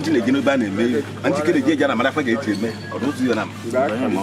ndị na-eji n'obe a na-eme ihe na ndị kere ji eji ana mara fa ga-eji eme ọ bụ ụzọ ya na mma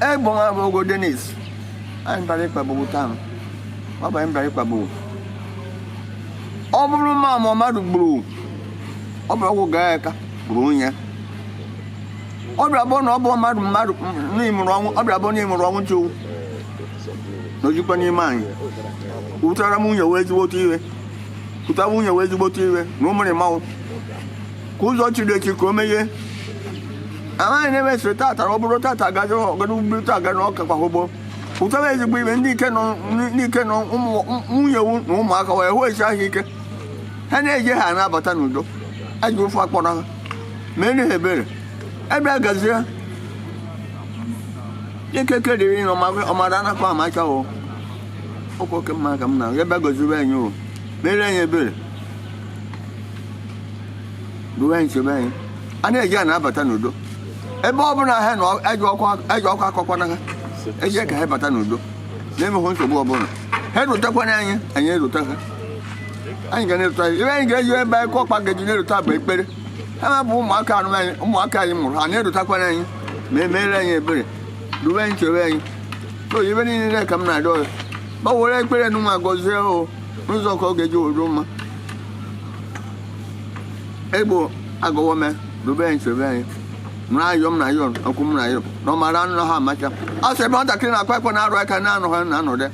egbon abụ ogo denis anyị bịara ịkpagbu taa ọ bụ anyị bịara ịkpagbu ọ bụrụ ma ma mmadụ gburu ọ bụrụ ọgwụ gaa aka gburu onye ọ bịara bụ na ọ bụ mmadụ mmadụ n'ịmụrụ ọnwụ ọ bịara bụ n'ịmụrụ ọnwụ chukwu na ojikwa n'ime anyị wutara m nwunye wee ezigbote iwe wutara nwunye wee ezigbote iwe na ụmụrị mmanwụ ka ụzọ chiri echi ka o meghe amaghị na emesịrị tata ọ bụrụ tata agazie ọgara ugburu taa gara ọka kwa ụgbọ ụtọba ezigbo ibe ndị ike nọ n'ike nọ nwunye wu na ụmụaka nwee ahụ isi ahụ ike ha na-eje ha na-abata n'udo ajọ ife akpọrọ ha mee ha ebere ebe a gazie ikike dịrị na ọmara anaha amacha o oke mma ka m na ebe a gọziwe anyị o mere anyị ebere duwe anyị chebe anyị a na-eje a na-abata n'udo ebe ọ bụla ha na-eje ọkpa akpọkwana ha eje ka ha bata n'udo na-emeghị nsogbu ọbụla ha erutekwana anyị anyị erute ha anyị ga na-erute anyị ebe anyị ga-eji ebe anyị ọkpa ga-eji na-erute bụ ekpere ha ma bụ ụmụaka anụ anyị ụmụaka anyị mụrụ ha na-erutekwana anyị ma emeere anyị ebere duwe anyị chebe anyị so ibe niile ka m na-arịọ ya ma were ekpere nụ ma gọzie o n'ụzọ ka ọ ga-eji adị mma egbo agụwọ mee dube anyị chebe anyị nụrụ ayọ m na ayọ ọkụ m na ayọ na ọ mara anaha amacha ọ sị ebe nwatakịrị na-akwa akwa na-arụ aka nne anọha nna anọdụ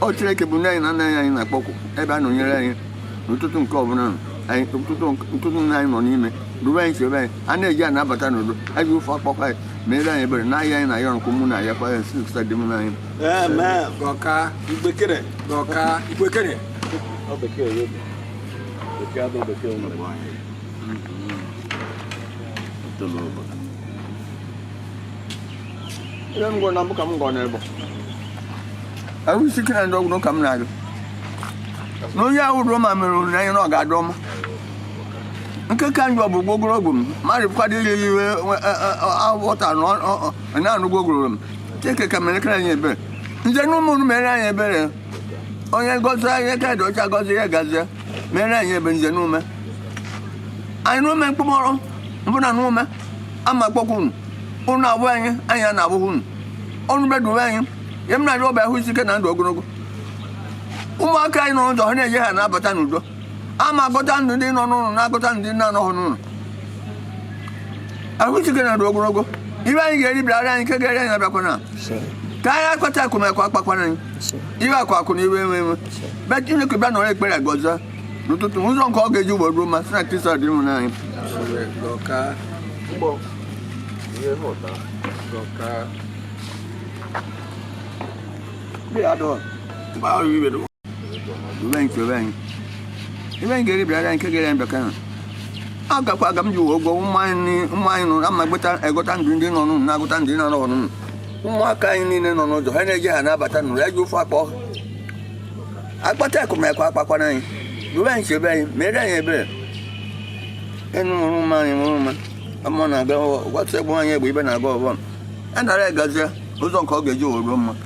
ọ Chineke bụ nne anyị na nna anyị na-akpọku ebe a nọnyere anyị n'ụtụtụ nke ọbụla nọ anyị ụtụtụ ụtụtụ nna anyị nọ n'ime dube anyị chebe anyị a na-eje a na-abata n'udo ajọ ife akpọkwa anyị mere anyị ebere na ihe a anyị na ayọ nke mụ na ayọkwa ya si dị mụ na anyị gọka igbekere gọka igbekere ihe m gwara na mbụ ka m gọ n'ebe ahụ isi ike na udo ka m na-agọ na onye ahụ ruo ma mere onyinye anya na ọ ga-adụ ọma nke ka njọ bụ gwogoro ogwu m mmadụ kwado iri iwe aghọta na ọ na-anụ gwogoro m Chineke ka merekere anyị ebere nze na ụmụnụ mere anyị ebere onye gọzi anyị ka dị ọcha gọzi ya gazie mere anyị ebere nze na ume anyị na ume mkpụmọrọ mbụna na ume ama akpọkwa unu unu abụ anyị anyị a na-abụghị unu unu bịa duwe anyị ya m na-arịọ ọ bụ ahụ isi ike na ndụ ogologo ụmụaka anyị nọ n'ụzọ ha na-eje ha na-abata n'udo a ma agọta ndụ ndị nọ n'ụlọ na-agọta ndị na-anọghị n'ụlọ ahụ isi ike na ndụ ogologo ibe anyị ga-eri bịara anyị nke ga-eri anyị abịakwana ka anyị akpata akụ ma akụ akpakwana anyị iwe akụ akụ na iwe enwe enwe be chineke bịa nara ekpere gọzie n'ụtụtụ ụzọ nke ọ ga-eji ụgbọ ruo mma si na kristo dinwenụ anyị uwe nke uwe anyị iwe anyị ga-eri bịara nke ga-eri anyị abịakwana ọ gakwa aga m ji ụgwọ ụmụ anyị nọ na mmagbeta agọta ndụ ndị nọ n'ụlọ na-agọta ndị na-anọghị n'ụlọ ụmụaka anyị niile nọ n'ụzọ ha na-eje ha na-abata n'udo ya ji ofe akpọ akpata akụ ma akụ akpakwana anyị duwe anyị chebe anyị mere anyị ebere unu mụrụ ụmụ anyị mụrụ ụmụ ọmụ na-aga ọghọ gwatụ egbu anyị egbe ibe na-aga ọbọ bịa nara ya gọzie ụzọ nke ọ ga-eji were mma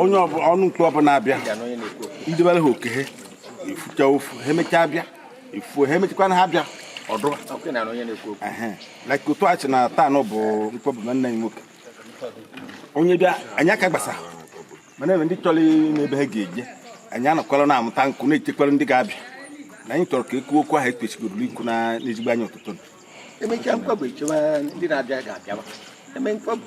onye ọnụ mkpọbụ na-abịa ndị bere ha oke ha efucha ofu ha emechaa bịa efuo ha emechakwana ha bịa ọdụ like otu echi na taa nụ bụ mkpọbụ nwanne anyị nwoke onye bịa anyị aka gbasa mana ebe ndị chọrọ n'ebe ha ga-eje anyị anọkwala na-amụta nkụ na-echekwara ndị ga-abịa na anyị chọrọ ka e kwuo okwu ahụ ekpechigoro ikwu na n'ezigbo anya ụtụtụ emechaa mkpọbụ echewa ndị na-abịa ga-abịa eme mkpọbụ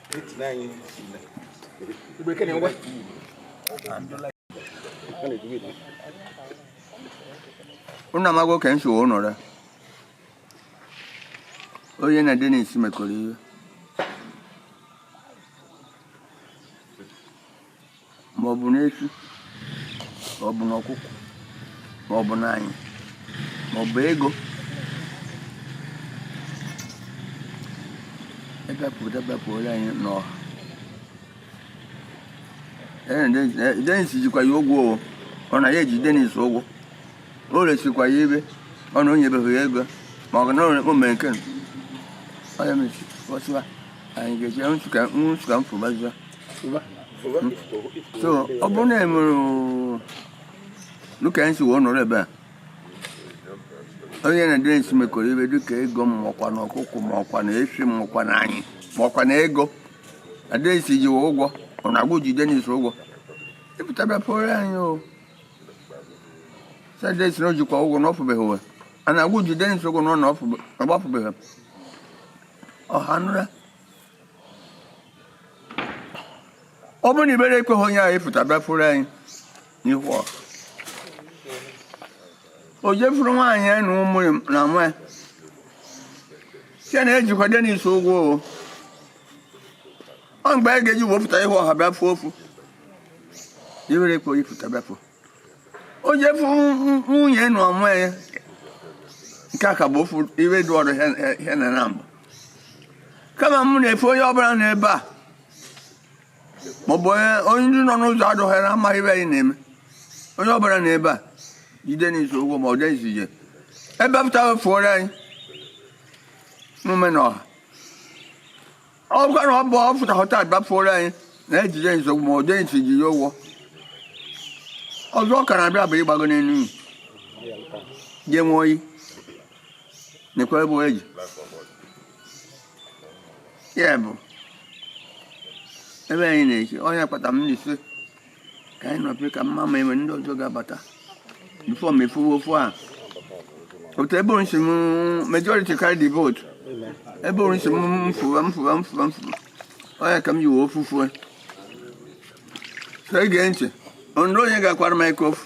unu amago ka m sị unu nụra onye na denis mekọrọ ihe ma ọ bụ n'efi ma ọ bụ n'ọkụkụ ma ọ bụ n'anyị ma ọ bụ ego ọ pụta bịa pụrụ anyị n'ọha denis jikwa ya ụgwọ o ọ na ya ji denis ụgwọ o resikwa ya ibe ọ na o nyebeghị ya ego ma ọ ga na o mere nke ọ ya mesi ọsịwa anyị ga-eji nwụsụ ka m fu gbazụa so ọ bụrụ na e mere dịka anyị si wee nọrọ ebe a onye na denis mekọrọ ibe dịka ego ma ọ kwa na ọkụkụ ma ọ kwa na efi ma ọ kwa na anyị ma ọ kwa na ego na denis ji wee ụgwọ ọ na gụ ji denis ụgwọ ị pụta bịa pụrụ anyị ọ sị denis na o jikwa ụgwọ na ọ fụbeghị ụwa ọ na gụ ji denis ụgwọ na ọ na ọ gbafụbeghị ọha nụra ọ bụrụ na ihere ekweghị onye ahụ ịpụta bịa fuoro anyị n'ihu ọha o je fuoro nwaanyị ya na ụmụ ya na nwa ya site na ejikwa denis ụgwọ o ọ mgbe a ga-eji wee pụta ihu ọha bịa fuo ofu ihere ekweghị ịpụta bịa fuo o je fuo nwunye na ụmụ ya nke a ka bụ ofu ihe dị ọrụ ihe na na mbụ kama m na-efe onye ọbụla na ebe a maọbụ onye ndị nọ n'ụzọ adụghị na amaghị ihe anyị na-eme onye ọbụla na ebe a ji denis ụgwọ ma ọ dị izu ije ebe pụta fuoro anyị n'ume na ọha ọ bụkwa na ọ bụ ọ fụta họta bịa fuoro anyị na eji denis ụgwọ ma ọ dịghị ndị ji ya ụgwọ ọzọ ọ ka na-abịa bụ ịgbago n'elu iyi ga-enwe oyi nekwa ebe o ji ya bụ ebe anyị na-eke onye kpata m na-esi ka anyị nọpụ ka mma ma enwere ndị ọzọ ga-abata before m efuwe ofu a otu ebe ọ sị m majority carry the vote ebe ọ sị m mfụwa mfụwa mfụwa mfụwa ọ ya ka m ji we ofu fue so ege ntị onye onye ga-akwara m ike ofu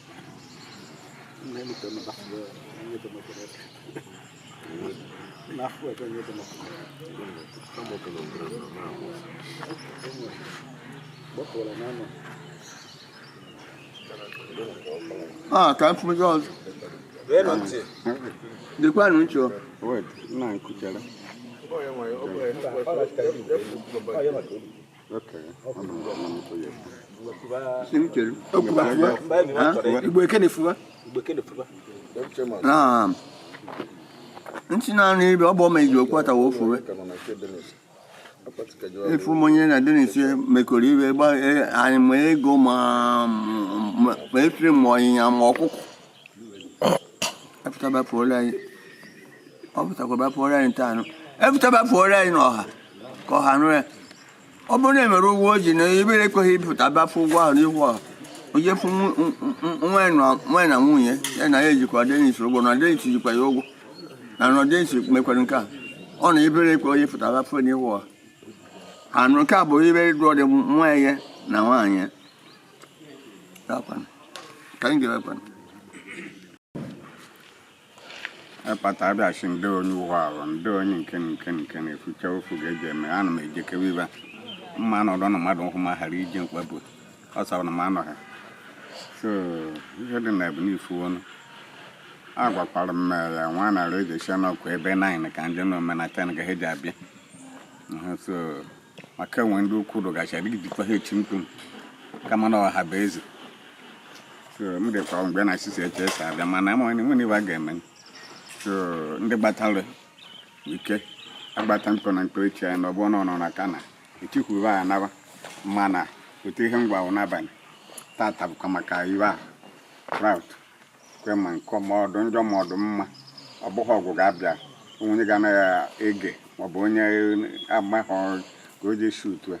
Ah, ka m fụ ndị ọzọ. Dịkwanụ ntị o. Wait, na nkuchara. nti na ni bi ọ bụ meji okwu ata wo fuwe efu ma onye na denis mekọrọ ihe gba anyị ma ego ma efi ma ọnyịnya ma ọkụkọ e fụta bịa fuoro anyị n'ọha ka ọha nụ ya ọ bụrụ na emere ụgwọ o ji na ihere ekweghị ịpụta bịa fuo ụgwọ ahụ n'ihu ọha o je fuo nwa na nwunye ya na ya ejikwa denis ụgwọ na denis jikwa ya ụgwọ na na denis mekwara nke a ọ na ihere ekwe onye pụta bịa fuo n'ihu ọha anụ nke a bụ ibere dụọ dị nwa ya na nwaanyị ka anyị ga-ekwe ịkpata abịachi ndị onye ụwa ahụ ndị onye nke nke nke na-efucha ofu ga-eji eme ana m ejekewe ibe mma nọdụ na mmadụ nkwụ ma ghara iji mkpagbu ọ sara na m anọghị so ihe dị na ya bụ n'ifu ọnụ agwakwara m ya nwa narị eji esi n'ọkụ ebe 9 ka nje na ọ mee na 10 ka ha eji abịa so maka e nwe ndị ukwu rụgachi adịghị dịkwa ha echi mkpu kama na ọha bụ eze so m dịkwa mgbe na achịsi eche esi abịa mana ama onye nwere ibe a ga-eme so ndị gbatara ike agbata mkpọ na mkpọ echi anyị na ọgbọ nọ na ka na etikwuba ya naba mana otu ihe m gwa unu n'abalị tata bụkwa maka iwe a rout kwe ma nkọ ma ọ dụ njọ ma ọ dụ mma ọ bụghị ọgwụ ga-abịa onye ga-anaghị ege maọbụ onye amaghị ka o ji esi utu a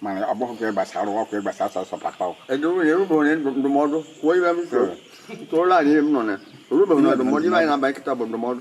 mana ọ bụghị ka ị gbasara okwu ị gbasara sọsọ papa o. Edwin e rube na ndụmọdụ kwuo ibe m so tụọla anyị ihe m nọ na erube na ndụmọdụ ibe anyị na-abanye kịta bụ ndụmọdụ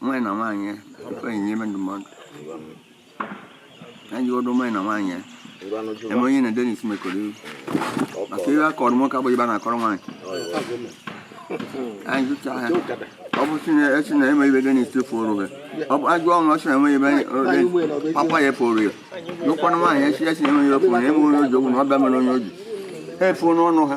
nwaanyị na nwaanyị ya tupu anyị nyebe ndụmọdụ anyị jụgodo nwaanyị na nwaanyị ya e nwe onye na denis mekọrọ iwu maka ibe a kọrọ nwoke abụghị ibe a na-akọrọ nwaanyị anyị jụcha ha ọ bụ sị na a sị na e nwe ibe denis furu gị ọ bụ a jụọ nwa sị na e nwe ibe denis papa ya furu ya jụkwana nwaanyị a sị a sị na e nwe ibe furu ya e nwe onye o ji ụgwọ na ọ bịa mere onye o ji ha efuo n'ọnụ ha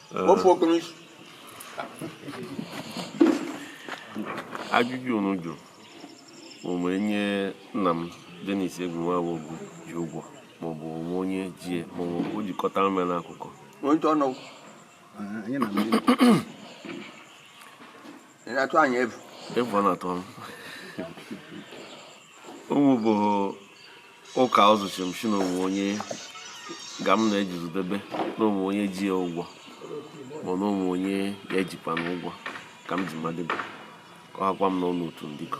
wepụ okporo isi ajụjụ unu jụrụ ma e nwee onye nna m Dennis Egunwawogu ji ụgwọ maọbụ o nwe onye ji ya maọbụ o ji kọtara m ya n'akụkọ onye ọnụ Anyị na ndị ọ mụ bụ ụka ọzụchi m sị na o nwe onye gwa m na-ejizudebe na o nwe onye ji ya ụgwọ ma na o nwe onye ya ejikwa na ụgwọ ka m ji madebe ka ọ hakwa m n'ọnụ otu ndịkọ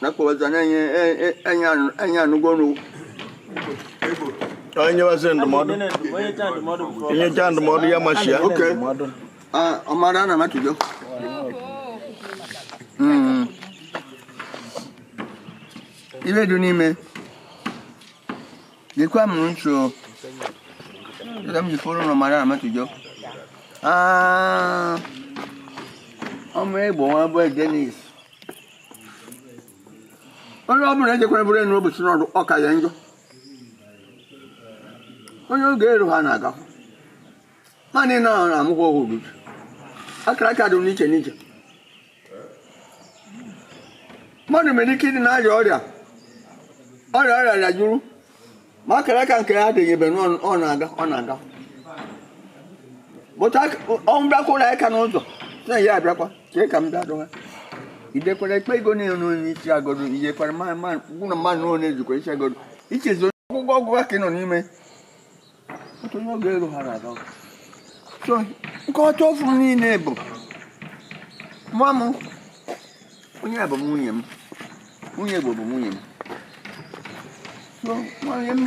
na-akpọbazi anya anyị anyị anụ- anyị anụgo ọnụ ka anyị nyebazi ndụmọdụ e nyecha ndụmọdụ ya machi ya oke Ah, ọmara na matụjọ Mm. ibe dị n'ime dịkwa m nso dịka m ji fọrọ na ọmara na matụjọ Ah, ọ mụ egbo nwa bụ denis onye ọ bụla ejekwara bụrụ enyi ụbọchị n'ọrụ ọ ka ya njọ onye oge eru ha na-aga naanị na ahụ na-amụkwa ọhụrụ ubi akara aka dị n'iche n'iche mmadụ nwere ike ịdị na-arịa ọrịa ọrịa ọrịa ya jụrụ ma akara aka nke ya adịghị ebe ọ na-aga ọ na-aga bụta ọnwụ bịa kụọ aka n'ụzọ na ya abịakwa chee ka m bịa dụwa idekwara ekpe ego niile n'onye isi agodo idekwara mmadụ mmadụ n'onye ejikwa isi agodo ichezi ọgwụgwọ ọgwụ ka ị nọ n'ime nkọcha ofu niile bụ nwa m onye bụ nwunye m nwunye bụ bụ nwunye m so nwunye m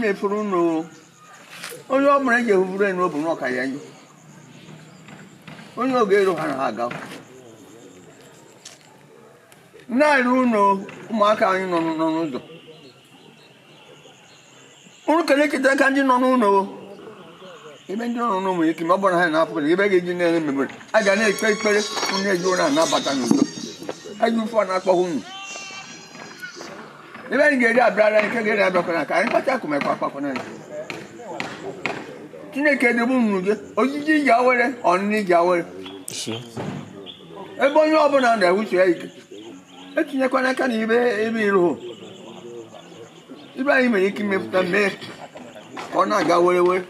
na-efuru ụlọ onye ọ bụla eji ehufuru enyi ọ bụ na ọ ka ya njọ onye oge eru ha na ha aga na-eru ụlọ ụmụaka anyị nọ n'ụzọ unu kere eketa aka ndị nọ n'ụlọ ebe ndị nọ n'ụlọ ike ma ọ bụrụ na ha na-apụta ebe ga-eji na-eme mmemme a ga na-ekpe ekpere onye eji ụra anabata n'udo eji ụfọ na-akpọghị unu ihe anyị ga-eri abịara anyị nke ga-eri abịakwana ka anyị kpata akụ mkpa akpakwana anyị chineke edebe unu gị oriri iji awere ọṅụṅụ iji awere ebe onye ọbụla na-ewuchi ya ike etinyekwana aka na ibe ebe iro ihe anyị nwere ike imepụta mee ka ọ na-aga were were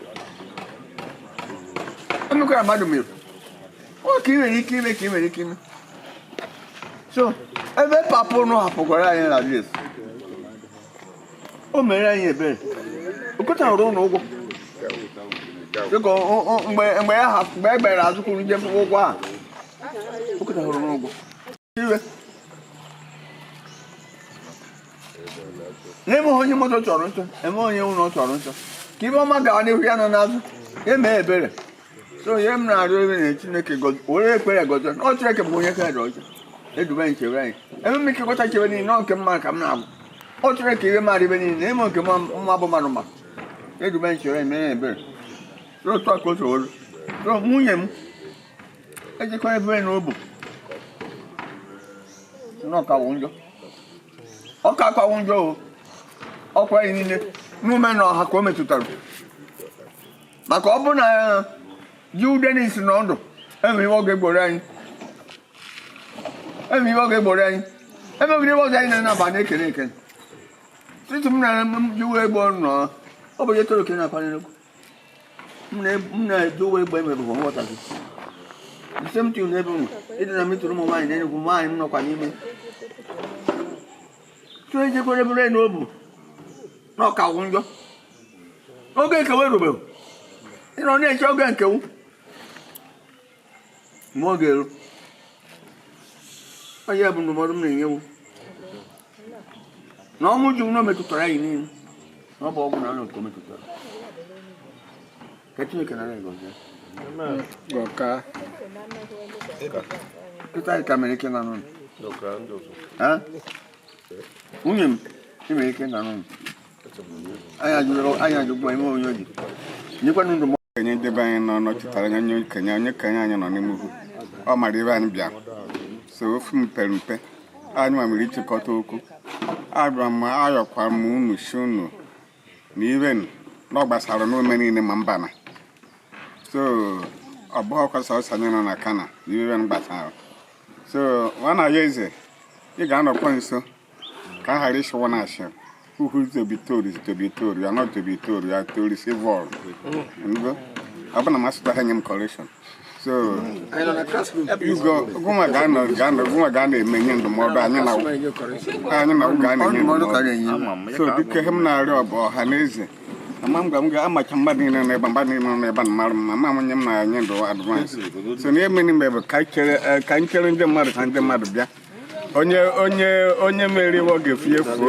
emekwara mmadụ mere ọ ka ị nwere ike ime ka ị nwere ike ime so ebe papa ụnụ hapụkwara anyị na res o mere anyị ebere o kọtara ụlọ ụgwọ dịka ọ- ọ- mgbe mgbe ya hapụ- mgbe e gbere azụ kwuru njem ụgwọ a o kọtara ụlọ ụgwọ n'ime onye moto chọrọ nchọ eme onye ụlọ chọrọ nchọ ka ihe ọma gawa n'ihu ya nọ n'azụ eme ebere so ihe m na-arịọ ebe na chineke were ekpere gọzie ọ chineke bụ onye kere ọha edube anyị chebe anyị eme m ike gọta chebe niile ọ nke mma ka m na-agwụ ọ chineke ihe mmadụ ihe niile na-eme nke mma bụ mmadụ ma edube anyị chebe anyị mee ebere so otu a ka o so nwunye m ejikwa ebe na ọ bụ na ọ ka wụ njọ ọ kaka wụ njọ o ọkwa anyị niile n'ụmụnna ọha ka o metụtara maka ọ bụ na Chief Denis nọ ndụ enwe ihe ọ ga-egboro anyị enwe ihe ọ ga-egboro anyị emebiri ihe ọzọ anyị na-anaba na-ekene ekene tutu m na m jiwe egbo nọ ọ bụ onye toro ka ị na-akwanyere m na-eji uwe egbe mere bụ nghọta gị the same thing n'ebe ụmụ ịdị na metụrụ ụmụ nwaanyị na-enegwu nwaanyị m nọkwa n'ime so ejekwere bụrụ enu ọ bụ na ọ ka wụ njọ oge nke wụ erubeghị ị nọ na-eche oge nke wụ mgbe ọ ga-eru onye bụ ndụmọdụ m na-enyewu na ọnwụ ji nwa metụtara anyị niile na ọ bụghị naanị nke o metụtara ka chineke nara ya gọzie Gọka. kịta anyị ka mere ike na nụnụ nwunye m ị mere ike na nụnụ onye ndebe anyị nọ nọchitara anya onye okenye onye okenye anyị nọ n'ime ugwu ọ mara ebe anyị bịara so ofu mpere mpe anyị nwa mere ịchịkọta okwu abịara m ayọkwara m unu si unu na ibe na ọ gbasara n'ome niile ma mba na so ọ bụghịkwa sọsọ anyị nọ na kana ihe gbasara so nwana ya eze ị ga-anọkwa nso ka a ghara ịsịwa na a sị who is to be told to be told you are not to be told you are to receive all ọ bụ na m asụtaha nye m correction so gị nwa ga na-eme nye ndụmọdụ anyị na ụgụ ga na-enye ndụmọdụ so dịka ihe m na-arịọ bụ ọha na eze ama m ga m ga-amacha mmadụ niile nọ ebe mmadụ niile nọ ebe na mara mma ma onye m na-enye ndị advice so na emeni mgbe bụ ka anyị chere ndị mmadụ ka ndị mmadụ bịa onye onye onye mere iwe ọ ga-efu efuo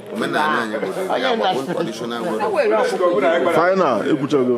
final ekwuchago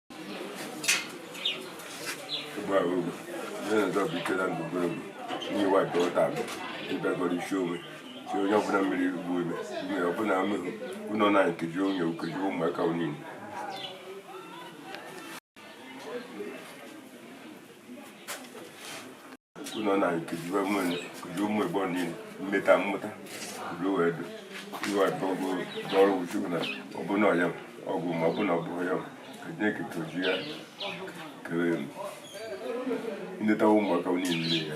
si onye ọbụla mmiri rugbu ime ime ọbụla amụghị ụlọ na nkeji onye okeji ụmụaka niile ụlọ na nkejiwe nwere nkeji ụmụ igbo niile mmeta mmụta bụrụ wee dị iwe atọgo n'ọrụ chukwu na ọbụna ọya ọgwụ ma ọbụna ọ bụghị ya ka chineke toji ya kere m nleta ụmụaka niile ya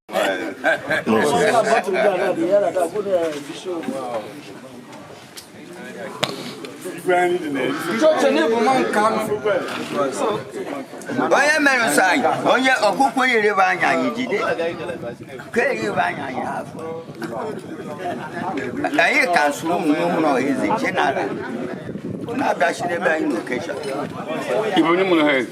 onye mere nsọ anyị onye ọkụkọ nyerebe anya anyị jide ka erebe anya anyị afọ anyị ka nsụ ụmụ ụmụrụ ọha eze che na ala na-abịachidebe anyị n'occasion Ibu onye mụrụ ha ezi.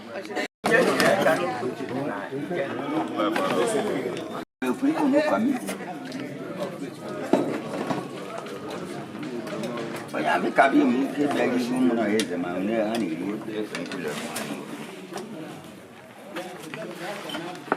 onye Amukabi m ike bịara ihu mụ na eze ma onye ha na-eri ofe nkụlọ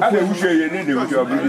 a na-ewuchi ya ihe na-ewuchi ọ bụrụ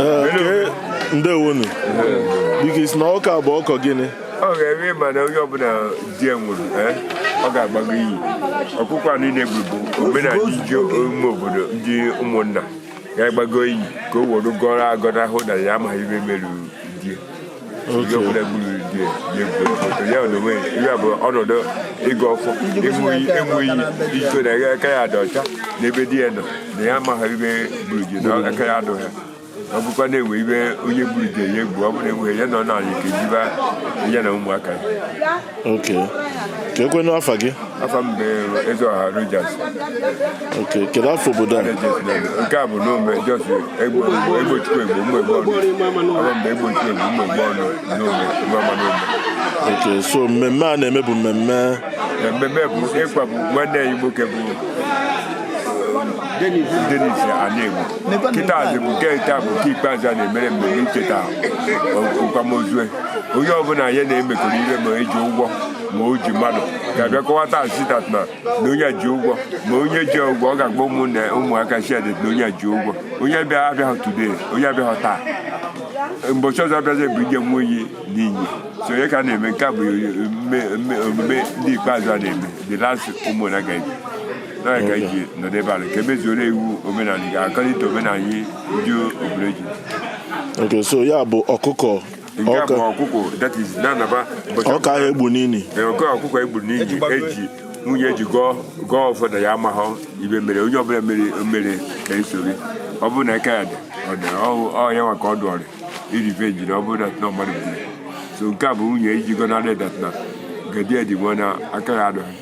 ee ndewonu biko ị sị na nke a bụ ọkụkọ gịnị oga ị ma na onye ọbụla di ya nwụrụ eh, ọ ga-agbago inyi ọkụkọ inyi a na-egbu bụ omenala e ji ụmụ obodo ndị ụmụnna ga-agbago inyi ka o were gọrọ agọrọ ahụ na ya amaghị ibe mere di ya onye ọbụla gburu di ya ga-egbu foto ya na onwe ya ihe a bụ ọnọdụ ịgọ ọfọ ịṅụ iyi ịkọ na ya aka ya dị ọcha n'ebe di ya nọ na ya amaghị ibe gburu di na aka ya adụ ha ọ bụkwa na e nwe ibe onye gburu di ya egbu ọ bụrụ enweghị ya nọ n'ala ike jiba ya na ụmụaka ya okay kekwanụ afa gị afa m bụ Ezeoha Rogers okay kedu afa obodo a nke a bụ Nomeh just egbochukwu egbo ụmụ egbo ọnụ afa mgbe egbochukwu egbo ụmụ egbo ọnụ Nomeh Imama Nomeh okay so mmemme a na-eme bụ mmemme mmemme bụ ịkwapụ nwanne anyị nwoke bụ Denis Anegbu kịtazi bụ nke taa bụ nke ikpeazụ a na-emere mmemme icheta n'akwamozu onye ọbụla ya na-emekọrọ ihe ma eji ụgwọ ma o ji mmadụ ga-abịa kọwata asitat na na onye ji ụgwọ ma onye ji ụgwọ ọ ga-agba ụmụnne ụmụaka siadet na onye ji ụgwọ onye bịa abịaghị today onye abịaghị taa mbọchị ọzọ abịazi bụ ije nwa oyi n'iyi so ọ ya ka a na-eme nke a bụ omume ndị ikpeazụ a na-eme the last ụmụnna ga ebi na ga eji nọdụ ebe a na ka e mezuoro iwu omenala according to omenala anyị ndị obodo ji okay so ya bụ ọkụkọ nke a bụ ọka ọkụkọ that is na-anaba ụbọchị ọka ahụ egbu n'ili Ee, oke ọkụkọ e gburu n'inyi eji nwunye eji gọọ gọọ ọfọ na ya amaghọ ibe mere onye ọbụla mere mere na-esori ọ bụrụ na eke ya dị ọ dị ọ ya nwa ka ọ dụọrị irive jiri ọ bụrụ dat na mmadụ gburu so nke a bụ nwunye iji gọnarị dat na gedi edi nwe na aka ya adịghị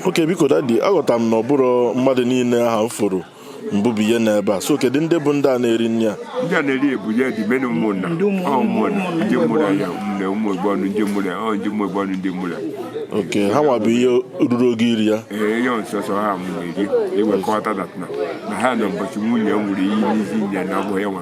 okay biko dadi aghọtara m na ọ bụrọ mmadụ niile aha m fụrụ mbụbụ ihe n'ebe a so kedu ndị bụ ndị a na-eri nri a ndị a na-eri ebu ya dị mena ụmụnna Ndị ụmụ- ọ ụmụnna ụmụnna ndị mụrụ ya ụmụnna ụmụ igbo ọnụ ndị mụrụ ya ọ ndị ụmụ igbo ọnụ ndị mụrụ ya okay ha nwa bụ ihe ruru oge iri ya ee ya nsọsọ ha mụ na-eri ewekọta dat na na ha na mbọchị nwunye ṅụrụ iyi n'isi nya na abụghị ya nwa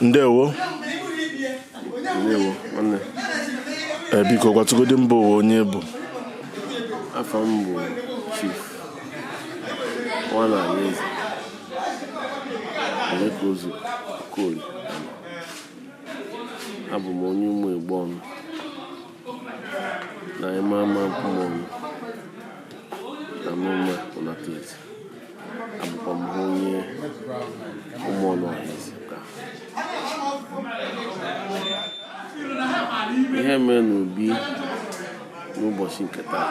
ndewo ee eh, biko gwatụgodi mba ụwa onye ị bụ afa m bụ chief nwana alaeze emeka ozu Okoli abụ m onye ụmụ igbo ọnụ na Imama Ụmụọnụ na Nomeh Unataeze abụkwa m onye ụmụọnụ Ọhaeze ka ihe mere n'obi n'ụbọchị nke taa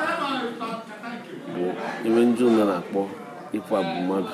bụ ihe ndị ụlọ na-akpọ ịkwagbu mmadụ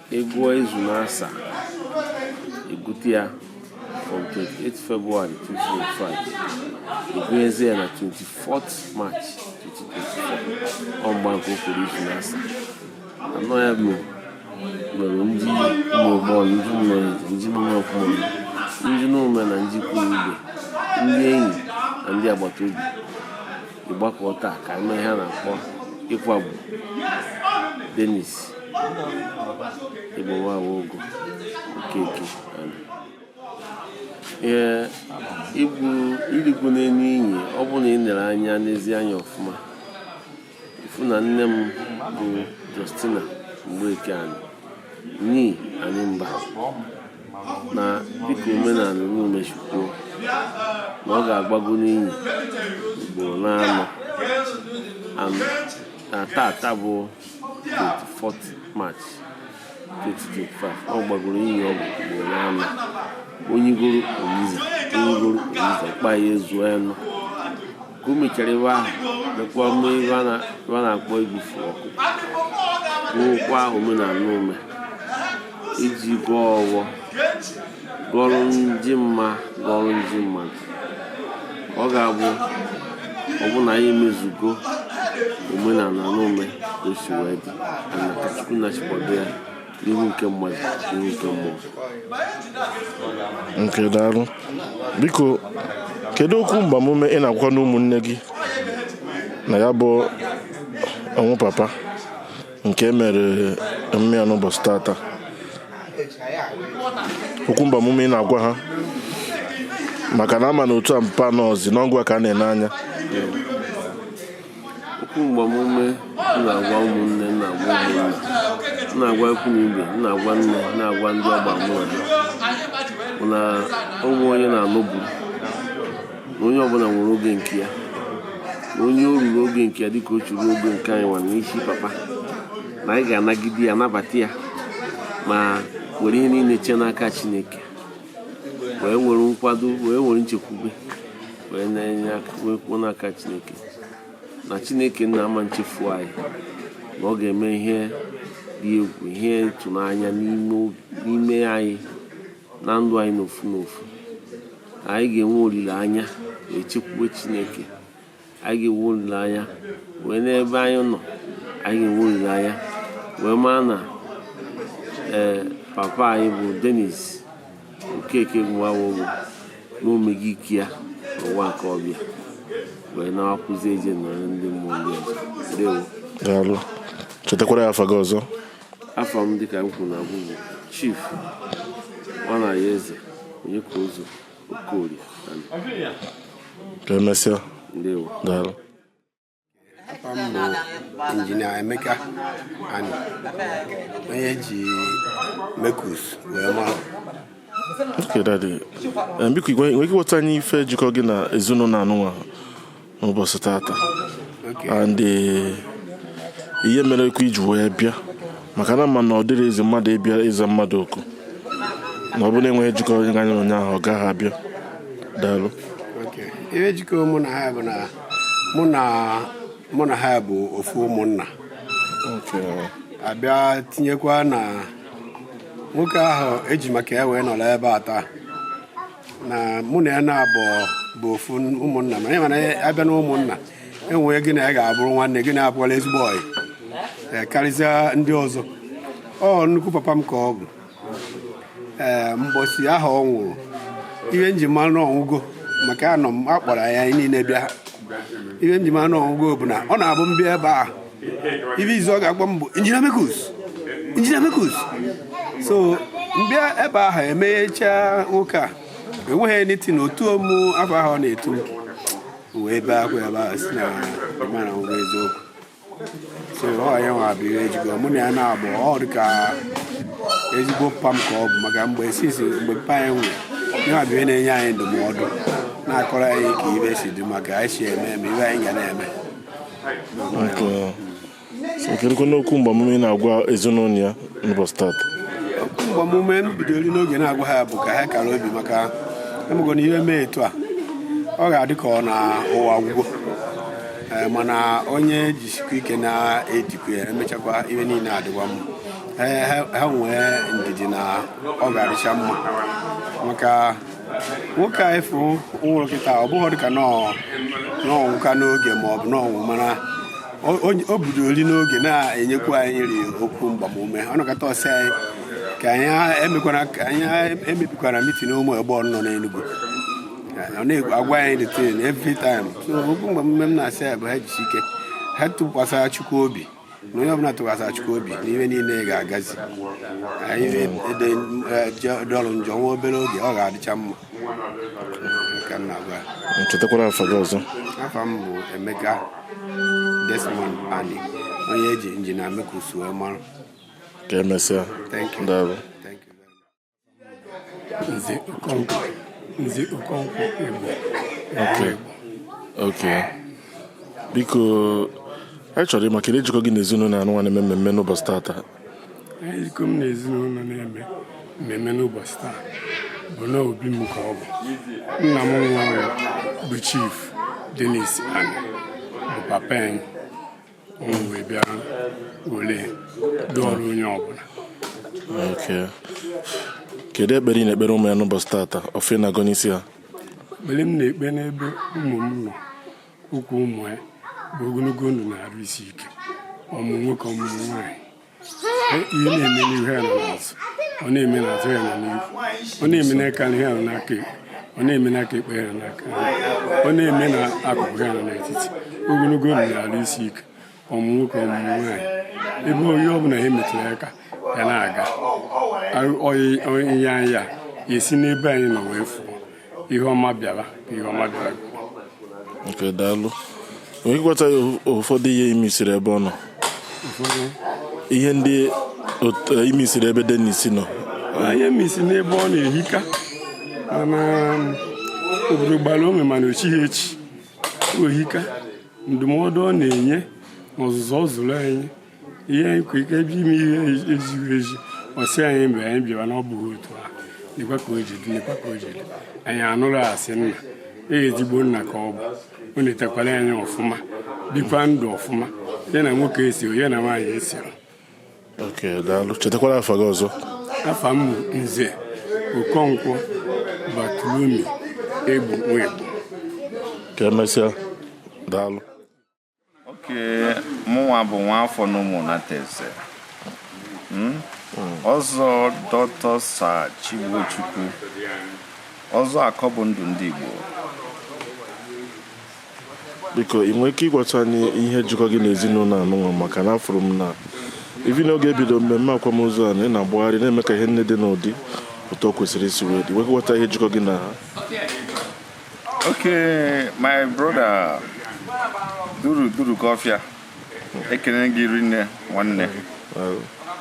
Ị gụọ izu n'asa, ị gụte ya from 28 February 2025 ị gụnyezie ya na 24th March 2024 ọ mgba nke okporo izu n'asa anọ ya bụ mere ndị ụmụ igbo ọnụ ndị mmeri ndị mmụọ ọkụmọnụ ndị Nomeh na ndị ikwu na ibe ndị enyi na ndị agbata obi ịgbakọ taa ka e mee ihe a na-akpọ ịkwagbu Dennis Igbowawa Ogo Okeke ee igbu irigbu n'elu iyi ọ bụrụ na ị nere anya n'ezi anya ọfụma ị fụ na nne m bụ Justina Mgbeke Ani nee Animba na dịka omenala Nomeh si kwuo na ọ ga-agbago n'inyi ugboro n'anọ na tata bụ 24 March 2025 ọ gbagoro inyi ọgwụ ugboro n'anọ o nyigoro o nyiza o nyigoro o nyiza kpa ya ezuo anọ ka o mechara ebe ahụ mekwa mme ebe a na- ihe a na-akpọ ibufu ọkụ wụkwa omenala Nomeh iji gọọ ọghọ gọrụ ndị mma gọrụ ndị mmadụ ọ ga-abụ ọ bụ na anyị emezugo omenala Nomeh ka o si wee dị ana ka chukwu na chi kwado ya n'ihu nke mmadụ n'ihu nke mmụọ nke daalụ biko kedu okwu mgbamume ị na-agwakwanụ ụmụnne gị na ya bụ ọnwụ papa nke mere emume ya n'ụbọchị tata okwu mgbamume ị na-agwa ha maka na a ma na otu a mpa anọọzi na ọ gịnwa ka a na-ene anya Okwu mgbamume na-agwa ụmụnne na-agwa ụmụnna na-agwa ikwu na ibe na-agwa nne na-agwa ndị ọgba mụ na ha na o nwe onye na-anọbu na onye ọbụla nwere oge nke ya na onye o ruru oge nke ya dịka o churu oge nke anyịnwa n'isi papa na anyị ga-anagide ya nabata ya ma were ihe niile chee n'aka Chineke wee nwere nkwado wee nwere nchekwube wee na-enye aka wee kwuo n'aka chineke na chineke nna ama nchefu anyị na ọ ga-eme ihe dị egwu ihe ịtụnanya n'ime anyị na ndụ anyị n'ofu n'ofu anyị ga-enwe olileanya wee chekwuwe chineke anyị ga-enwe olileanya wee n'ebe anyị nọ anyị ga-enwe olileanya wee maa na ee eh, papa anyị bụ denis Okeke nwawowo na o mego ike ya n'ụwa nke ọ bịa wee na-akwụzi eje nọrọ ndị mmụọ ndị ọzọ ndewo daalụ chetakwara anyị afa gị ọzọ afa m dịka m kwuru na mbụ bụ chief nwanayọeze onyeka ụzọ okorie ka e mesịa ndewo daalụ afa m bụ injinia Emeka Ani onye e ji mekus wee mara Okay, daddy. Eh, biko i nwere ike ịgwa anyị ife jikọ gị na ezinụlọ anụnwa n'ụbọchị tata Okay. and eh, ihe mere i kwu ji wee bịa maka na a ma na ọ dịrọ easy mmadụ ịbịa ịza mmadụ oku na ọ bụrụ na enweghị ihe jikọ onye ahụ na onye ahụ ọ gaghị abịa daalụ Okay. ihe jikọrọ mụ na ha bụ na mụ na mụ na ha bụ ofu ụmụnna a bịa tinyekwa na nwoke ahụ e ji maka ya wee nọrọ ebe a taa na mụ na ya na-abụ bụ ofu ụmụnna ma mana a bịa na ụmụnna e nwee gị na ya ga-abụrụ nwanne gị na ya abụkwala ezigbo ọyị karịsịa ndị ọzọ ọ nnukwu papa m ka ọ bụ ee mbosi ahụ ọ nwụrụ ihe m ji ma na ọ nwụgo maka anọ m a kpọrọ anyị niile bịa ihe m ji ma na ọ nwụgo bụ na ọ na-abụ m bịa ebe a ihe izizi ọ ga-akpọ m bụ injinia mekus injinia mekus so m bịa ebe ahụ emeghechaa nwoke a enweghị anything o tuọ mụ afa ahụ ọ na-etu m wee bee akwa ebe ahụ si na m ma na ọ nwụgo eziokwu ọ ya nwa bụ ihe jikọ mụ na ya na-abụ ọ dị ka ezigbo papa m ka ọ bụ maka mgbe since mgbe papa anyị nwụrụ ya bụ ihe na-enye anyị ndụmọdụ na-akọrọ anyị ka ibe si dị ma ka anyị si eme eme ibe anyị ga na-eme kedụkwanụ okwu mgbamume ị na-agwa ezinụlọ ya n'ụbọchị taata okwu mgbamume m bidoro n'oge na-agwa ha bụ ka ha kara obi maka ị mago na ihe mee etu a ọ ga-adị ka ọ na ụwa agwụgo Eh, mana onye jisikwa ike na-edikwa ya emechakwa ihe niile adịkwa mma Eh, ha ha nwee ndidi na ọ ga-adịcha mma maka nwoke afụ nwụrụ kịta ọ bụghị dịka na ọ na ọ nwụka n'oge ma ọ bụ na ọ nwụ mana o- o- o bidoro rị n'oge na-enyekwa anyị rị okwu mgbamume ọ nọkọta ọ sị anyị ka anyị emekwana ka anyị emebikwana mitin ụmụ egbe nọ n'Enugu ọ na-agwa anyị the thing every time so okwu mgbamume m na-asị ya bụ ha jisi ike ha tụkwasara Chukwu obi na onye ọbụla tụkwasara Chukwu obi na ihe niile ga-agazi ya dụrụ njọ nwa obere oge ọ ga-adịcha mma ka m na-agwa chetakwara afa gị ọzọ afa m bụ Emeka Desmond Ani onye eji injinia Mekus wee mara ka emesịa thank you daalụ Nze Okonkwo Nze Okonkwo Igbo Okay. Okay. Biko anyị chọrọ ịma kedu ihe jikọ gị na ezinụlọ anụnwa na-eme mmemme n'ụbọchị tata ihe jikọ m na ezinụlọ na-eme mmemme n'ụbọchị taa bụ na obi m ka ọ bụ nna m nwụrụ bụ chief Dennis Ani bụ papa anyị wee bịa ole dụrụ onye ọbụla kedu ekpere ị na-ekpere ụmụ ya n'ụbọchị tata ọfọ ị na-agọ n'isi ha ekpere m na-ekpe n'ebe ụmụ m nọ ụkwụ ụmụ ya bụ ogologo ndụ na arụ isi ike ọmụmụ nwoke ọmụmụ nwaanyị ihe na-eme n'ihu ya nọ n'azụ ọ na-eme n'azụ ya nọ n'ihu ọ na-eme n'aka nri ya nọ n'aka ekpe ọ na-eme n'aka ekpe ya nọ n'aka ọ na-eme n'akụkụ ya nọ n'etiti ogologo ndụ na arụ isi ike ọmụmụ nwoke ọmụmụ nwaanyị ebe ihe ọ bụla ha metụrụ aka ya na-aga onye anya ya esi n'ebe anyị nọ wee fụọ ihe ọma bịara ihe ọma bịara okay daalụ onye gwata ya ụfọdụ ihe ị missiri ebe ọ nọ ihe ndị eh, ị missiri ebe Dennis nọ ihe m miss n'ebe ọ nọ ehika mana um, obodo gbara ome mana o chighị echi o hika ndụmọdụ ọ na-enye na ọzụzụ ọ zụrụ anyị ihe anyị kwere ike ebe ime ihe ezighị ezi ọ sị anyị mgbe anyị bịara na ọ bụghị otu a lekwa ka o ji dị lekwa ka o ji dị anyị anụrụ a sị nna e ezigbo nna ka ọ bụ o netakwara anyị ọfụma bikwa ndụ ọfụma ya na nwoke esi ya na nwaanyị esi okay daalụ chetakwara afa gị ọzọ afa m nze okonkwo batulumi egbu nwegbu ka emesịa daalụ okay mụnwa bụ nwa afọ na ụmụnateze hmm? ọzọ doctor sir Chigbochukwu ọzọ akọ bụ ndụ ndị Igbo biko ị nwere ike ịgwata anyị ihe jikọ gị na ezinụlọ anụnwa maka na afụrụ m na even n'oge e bido mmemme akwamozu a na ị na-agbagharị na-eme ka ihe niile dị n'ụdị otu o kwesịrị isi wee dị ị nwere ike ịgwata anyị ihe jikọ gị na ha Okay, my brother duru kọfịa ekene gị rinne nwanne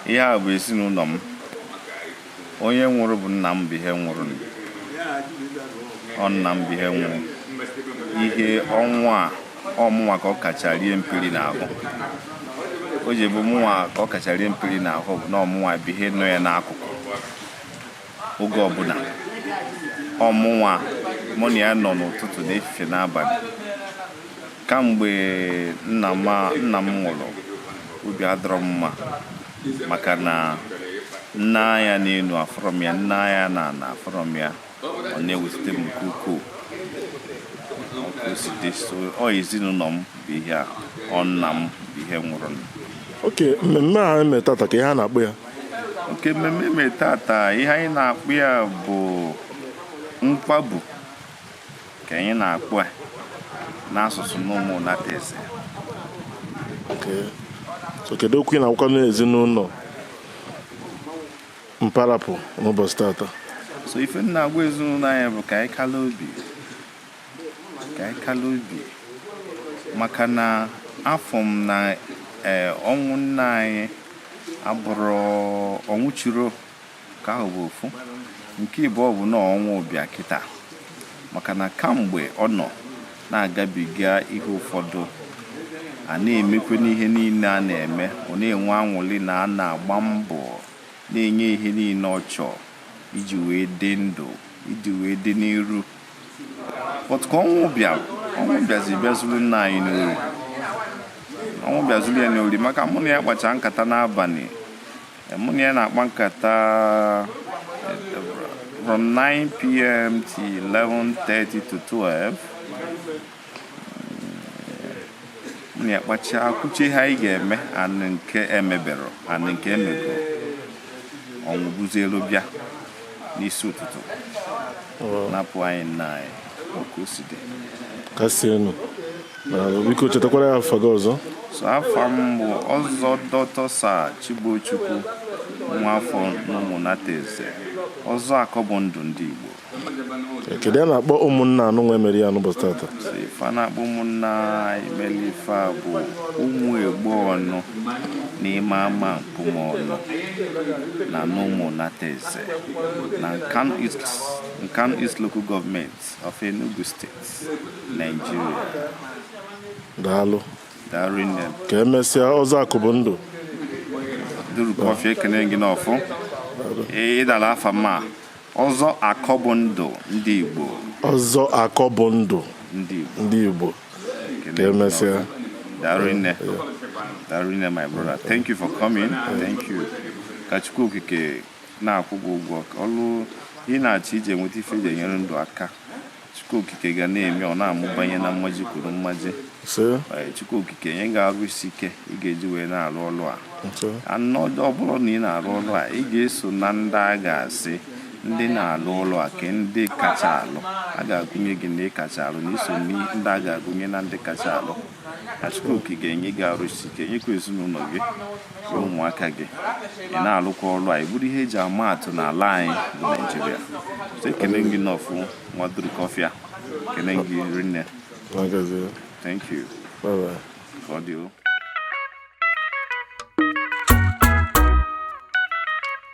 ihe a bụ ezinụlọ m onye nwụrụ bụ nna m bụ ihe nwụrụ nụ. ọ nna m bụ ihe nwụrụ ihe ọnwa a ọ mụnwa ka ọ kacha rie mperi n'ahụ o ji bụ mụnwa ka ọ kacha rie mperi n'ahụ bụ na ọ mụnwa bụ ihe nọ ya n'akụkụ oge ọbụla ọ mụnwa mụ na ya nọ n'ụtụtụ na efife n'abalị kamgbe nna m a- nna m nwụrụ obi adịrọ m mma maka na m nee anya n'elu afụrọ m ya m nee anya n'ana afụrọ m ya ọ na-ewute m nke ukwuu Otu o si dị so ọ ezinụlọ m bụ ihe a ọ nna m bụ ihe nwụrụ nụ okay mmemme a e me tata kee ihe a na-akpọ ya okay mmemme mere tata ihe anyị na-akpọ ya bụ nkwabu ka anyị na-akpọ ya n'asụsụ n'ụmụnateze so kedu okwu ị na-agwakwanụ ezinụlọ mpa rapụ n'ụbọchị tata so ife m na-agwa ezinụlọ anyị bụ ka anyị kala obi ka anyị kala obi maka na afụ m na eh, ọnwụ nna anyị abụrọ ọnwụ chiro nke ahụ bụ ofu nke ịbụọ bụ na ọnwụ bịa kịta maka na kamgbe ọ nọ na-agabiga ihe ụfọdụ a na-emekwe n'ihe niile a na-eme ọ na-enwe anwụlị na a na-agba mbọ na-enye ihe niile ọ chọọ iji wee dị ndụ iji wee dị n'iru but ka ọnwụ bịara ọnwụ bịazi bịa zuru nna anyị n'ori ọnwụ bịa zuru ya n'ori maka mụ na ya kpacha nkata n'abalị mụ na ya na-akpa nkata from 9 p.m. to 11:30 to 12 ya kpachaa kwuche ihe anyị ga-eme anụ nke emebere anụ nke emebere ọnwụ buzielu bịa n'isi ụtụtụ napụ anyị nna anyị otu o si dị kasienụ daalụ biko chetakwara ya afa gị ọzọ so afa m bụ ọzọ doctor sir chibuchukwu nwa afọ n'ụmụnateze ọzọ akọ bụ ndụ ndị igbo kedu ihe a na-akpọ ụmụnna anụnwa emeri ya n'ụbọchị tata ife a na-akpọ ụmụnna emeli ife a bụ ụmụ egbo ọnụ n'ime ama mkpụmọnụ na n'ụmụnateze na nkanu east local government of enugu state nigeria daalụ daalụ rinne ka emesịa ọzọ akọ bụ ndụ duru kọfịa ekene gị n'ọfụ ịdala afa mma Ọzọ akọ bụ ndụ ndị Igbo. Ọzọ akọ bụ ndụ ndị Igbo. Ka emesịa. Daalụ rinne. Daalụ rinne my brother. Thank you for coming. Thank you. Ka Chukwu Okike na-akwụ gị ụgwọ ọlụ ị na-achọ iji enweta ife eji enyere ndụ aka. Chukwu okike ga na-eme ọ na-amụbanye na mmaji kwuru mmaji eh, Chukwu okike nye gị arụ isi ike ị ga-eji wee na-arụ ọrụ a and ọ bụrụ na ị na-arụ ọrụ a ị ga-eso na ndị a ga-asị ndị na-alụ ọlụ a ka ndị kacha alụ a ga-agụnye gị na ị kacha alụ na i so ndị a ga-agụnye na ndị kacha alụ Chukwu okike ga-enye gị arụ isi ike nyekwa ezinụlọ gị ụmụaka gị ị na-alụkwa ọrụ a ị bụrụ ihe eji ama atụ n'ala anyị bụ naijiria ekene gị n'ọfụ nwa duru kọfịa ekene gị rinne thank you ka ọ dị